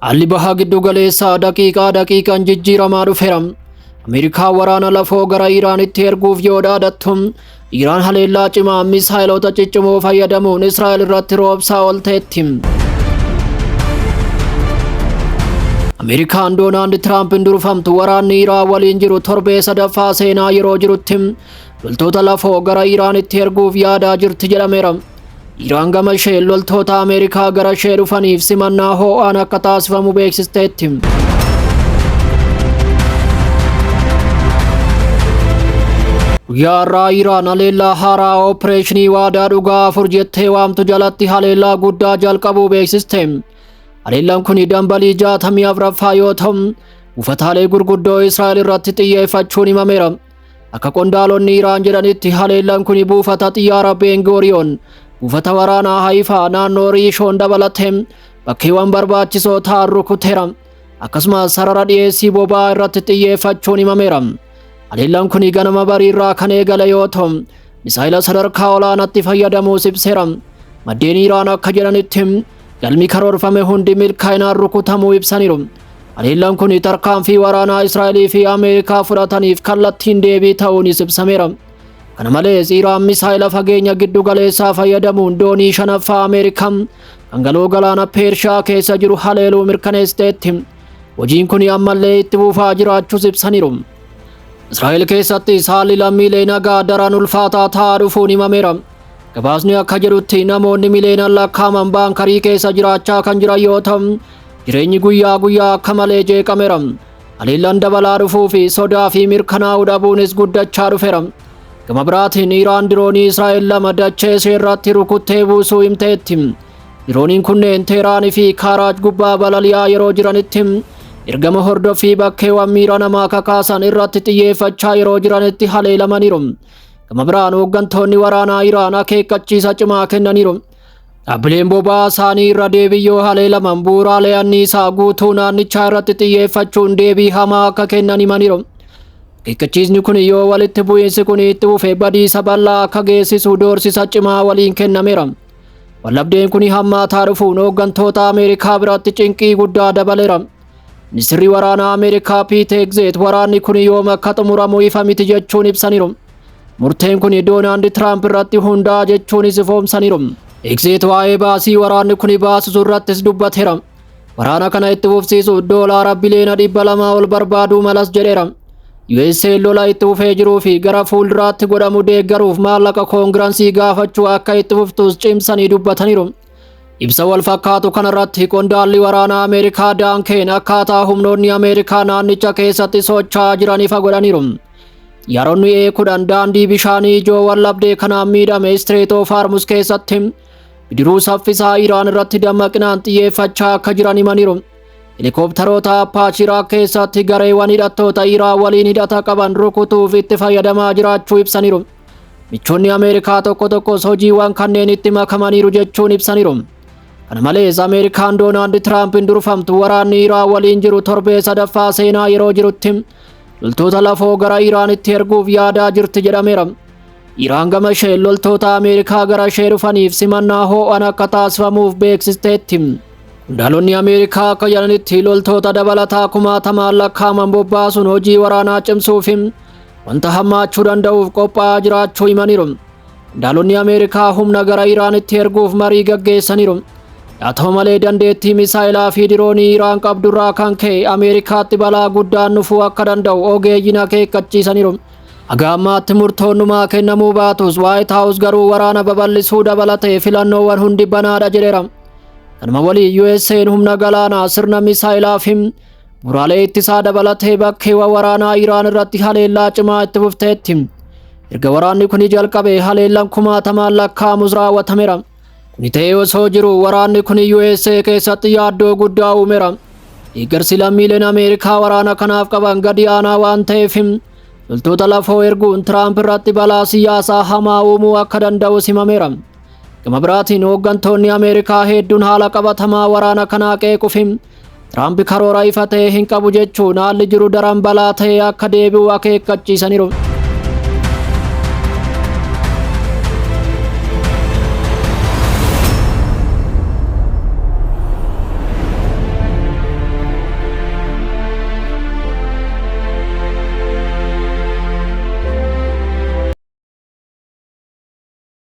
Haalli bahaa giddu galeessaa daqiiqaa daqiiqaan jijjiiramaa dhufeera. Ameerikaa waraana lafoo gara Iraanitti erguuf yoo dhaadattu, Iraan haleellaa cimaa misaa'eloota ciccimoo fayyadamuun Israa'el irratti roobsaa oolteetti. Ameerikaan Doonaald Tiraampiin durfamtu waraanni Iraan waliin jiru torbee sadaffaa seenaa yeroo jirutti Loltoota lafoo gara Iraanitti erguuf yaadaa jirti jedhameera. Iraan gama isheen loltoota Ameerikaa gara ishee dhufaniif simannaa hoo'aan akka taasifamu beeksisteetti. Guyyaa har'aa Iraan haleellaa haaraa oopireeshinii waadaa dhugaa afur jettee waamtu jalatti haleellaa guddaa jalqabuu beeksiste. Haleellaan kun dambalii jaatamii afraffaa yoo ta'u, buufataalee gurguddoo Israa'el irratti xiyyeeffachuun himameera. Akka qondaalonni Iraan jedhanitti haleellaan kun buufata xiyyaara Beengoriyoon, buufata waraanaa Haayifaa naannoo Riishoon dabalatee bakkeewwan barbaachisoo ta'an rukuteera. Akkasumas sarara dhiyeessii boba'aa irratti xiyyeeffachuun himameera. Haleellaan kun ganama bariirraa kan eegale yoo ta'u, misaayila sadarkaa olaanaatti fayyadamuus ibseera. Maddeen Iraan akka jedhanitti Galmi karoorfame hundi milkaa'inaan rukutamuu ibsaniiru. Haleellaan kun tarkaanfii waraanaa Israa'elii fi Ameerikaa fudhataniif kallattiin deebii ta'uunis ibsameera. Kana malees Iraan misaa'ela fageenya giddu galeessaa fayyadamuun doonii shanaffaa Ameerikaa kan galoo galaana Peershiyaa keessa jiru haleeluu mirkaneessiteetti. Hojiin kun ammallee itti fufaa jiraachuus ibsaniiru. Israa'el keessattis haalli lammiilee nagaa daran ulfaataa ta'aa dhufuun himameera. Gabaasni akka jedhutti namoonni miliyoonaan lakkaa'aman baankarii keessa jiraachaa kan jiran yoo ta'u, jireenyi guyyaa guyyaa akka malee jeeqameera. Haleellaan dabalaa dhufuu fi sodaa fi mirkanaa'uu dhabuunis guddachaa dhufeera. Gama biraatiin Iraan diroonii Israa'el lama dachee ishee irratti rukuttee buusuu himteetti. Dirooniin kunneen Teeraan fi Kaaraaj gubbaa balali'aa yeroo jiranitti ergama hordoffii bakkeewwan miira namaa kakaasan irratti xiyyeeffachaa yeroo jiranitti haleelamaniiru. Gama biraan hooggantoonni waraanaa Iraan akeekkachiisa cimaa kennaniiru. Dhaabbileen boba'aa isaanii irra deebii yoo haleelaman bu'uuraalee anniisaa guutuu naannichaa irratti xiyyeeffachuun deebii hamaa akka kennan himaniiru. Akeekkachiisni kun yoo walitti bu'iinsi kun itti fufe badiisa bal'aa akka geessisu doorsisa cimaa waliin kennameera. Wallabdeen kun hammaataa dhufuun hooggantoota Ameerikaa biratti cinqii guddaa dabaleera. Ministirri waraanaa Ameerikaa Piit Egzeet waraanni kun yoom akka xumuramu ifa miti jechuun ibsaniiru. Murteen kun Doonaald Tiraamp irratti hundaa'a jechuunis ifoomsaniiru. Egzeet waa'ee baasii waraanni kun baasisu irrattis dubbateera. Waraana kana itti fufsiisuuf doolaara biliyoona dhibba lamaa ol barbaaduu malas jedheera. USA lola itti fufee jiruu fi gara fuulduraatti godhamu deeggaruuf maallaqa koongiransii gaafachuu akka itti fuftuus cimsanii dubbataniiru. Ibsa wal fakkaatu kanarratti qondaalli waraanaa Ameerikaa Daankeen akkaataa humnoonni Ameerikaa naannicha keessatti socho'aa jiran ifa godhaniiru. Yaroonni ee kudhan daandii bishaanii ijoo wallabdee kanaan miidhame Istireet oof Harmuz keessatti bidiruu saffisaa Iraan irratti dammaqinaan xiyyeeffachaa akka jiran himaniiru. Helikoptaroota Apaachii Iraaq keessatti gareewwan hidhattoota Iraan waliin hidhata qaban rukutuuf itti fayyadamaa jiraachuu ibsaniiru. Michoonni Ameerikaa tokko tokkos hojiiwwan kanneenitti makamaniiru jechuun ibsaniiru. Kana malees Ameerikaan Doonaald Tiraampiin durfamtu waraanni Iraan waliin jiru torbee sadaffaa seenaa yeroo jirutti loltoota lafoo gara Iraanitti erguuf yaadaa jirti jedhameera. Iraan gama isheen loltoota Ameerikaa gara ishee dhufaniif simannaa hoo'an akka taasifamuuf beeksisteetti. Qondaalonni Ameerikaa akka jedhanitti loltoota dabalataa kumaatamaan lakkaa'aman bobbaasuun hojii waraanaa cimsuufi wanta hammaachuu danda'uuf qophaa'aa jiraachuu himaniiru. Qondaalonni Ameerikaa humna gara Iraanitti erguuf marii gaggeessaniiru. Haa ta'u malee dandeettii misaa'elaa fi diroonii Iraan qabdurraa kan ka'e Ameerikaatti balaa guddaan dhufuu akka danda'u ogeeyyiin akeekkachiisaniiru. Haga ammaatti murtoon dhumaa kennamuu baatus Waayit Haawus garuu waraana babal'isuu dabalatee filannoowwan hundi banaadha jedheera. Kanuma waliin USA'n humna galaanaa sirna misaa'elaa fi Muraalee ittisaa dabalatee bakkeewwan waraanaa Iraan irratti haleellaa cimaa itti fufteetti. Erga waraanni kun jalqabe haleellaan kumaatamaan lakkaa'amus raawwatameera. Kuni ta'ee osoo jiru waraanni kun USA keessatti yaaddoo guddaa uumeera. Deeggarsi lammiileen Ameerikaa waraana kanaaf qaban gadi aanaa waan ta'eef loltoota lafoo erguun Tiraamp irratti balaa siyaasaa hamaa uumuu akka danda'u himameera. Gama biraatiin hooggantoonni Ameerikaa hedduun haala qabatamaa waraana kanaa qeequfi Tiraamp karoora ifa ta'e hin qabu jechuun haalli jiru daran balaa ta'e akka deebi'u akeekkachiisaniiru.